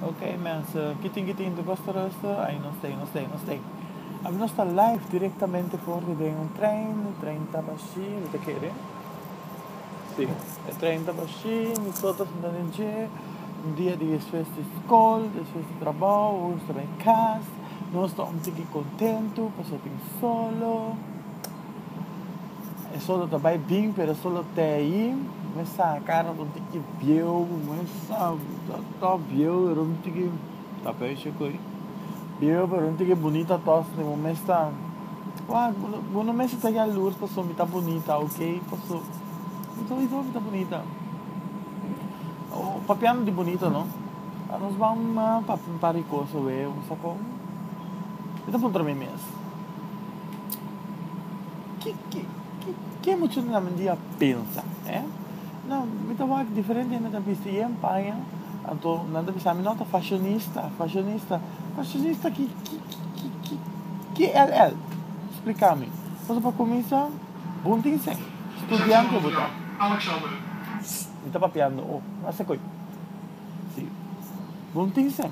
Ok mensen, kitin kitin de bus terreuse, ay nos stay, nos stay, nos stay. Abi nos ta live directamente for de den un trein, e trein ta bashi, mi ta kere. Si, e trein ta bashi, mi so ta sinta den dje, un dia di despues di skol, despues di trabao, nos ta bay cas, nos ta un tiki contento, paso tin solo. E solo ta bai bin pero e solo te ahi me sa cara con tin ki bieu me sa ta to bieu pero no tin ki ta pe she koi bieu pero no tin ki bonita ato so mo me sa wa bo no mester ta yalur paso mi ta bonita ok paso mi ta without mi ta bonita papiando di bonita no anos mama papi un par di cosa wea mi sa con mi ta puntra mi mes Ki ki ki ke mi chunga na mente i a pensa, eh? No, mi ta wak diferente hende ta bisti yen paña, anto nan ta bisa mi, no, ta fashonista, fashonista. Fashonista ki ki ki ki ki ll? Splika mi. Pasobra pa kuminsa, bo no tin sen, studiante bo ta. Mi ta papiando, oh, mi a haci koe. Si, bo no tin sen.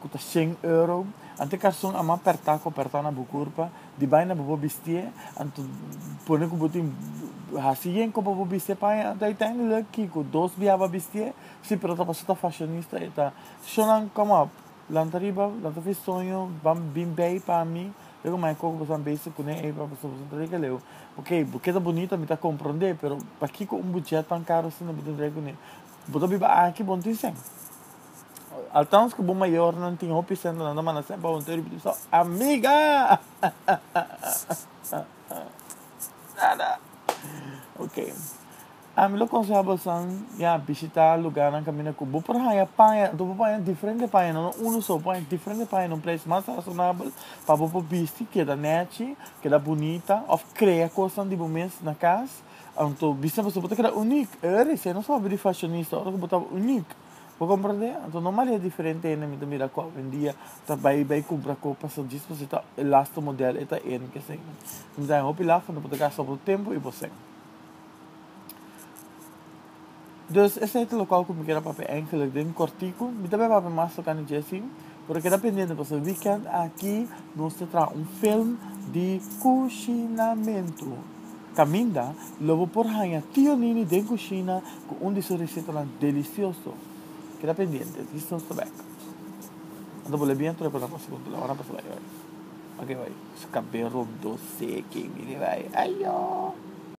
ku ta shen euro, anto karston a man pertá ku a pertá na bo kurpa, di bai na bo pa bistié, anto pone ku bo tin hasi yen ku pa bo bistié paña, anto uiteindelik kiko dos biaha pa bistié, si pero ta paso ta fashonista e ta Shonan kom op, lanta riba, lanta fris soño, ban bin bei pa mi, yo ku mai koko boso a bese kuné ei pa boso boso ta tin ke leu, ok bo keda bonita mi ta komprondé pero pakiko un bujet tan karo asina bo tin trae kuné, bo ta biba aki bo no tin shen. Althans cu bo mayornan tin hopi cento nan ta manda sep pa bo ta ripiti so amiga nada ok ami lo conseha bosan ya bishita lugarnan caminda cu bo por haya paña anto bo paña diferente paña no no uno so bo paña diferente paña na un prijs mas razonabel pa bo por bisti keda nechi keda bunita of crea cosnan di bo mes na cas anto bisti na bo so bo ta keda unic ey recién nos a hopi di fashionista ora cu bo ta unic. Bo komprende? Anto normal e diferente hende mi ta mira ku awendia ta bai bai kumpra ku paso djis paso e ta e lastu modèl e ta en kesei. Mi ta haña hopi lasta anto bo ta gasta bo tempu i bo sèn. Dus esei ta lokual ku mi keda papia enkele den kòrtiku. Mi ta bin papia mas tokante Jessy. Pero keda pendiente pasobra weekend aki nos ta traha un film di kushinamentu. Kaminda lo bo por haña Tio Nini den kushina ku un di su resetanan delisioso. Keda pendiente, dis nos ta bek. Anto bo lebia anto reporta pa segun telehoran pasa bai bai. Oke bai. Su kabel rondó seki, mire bai. Ayo!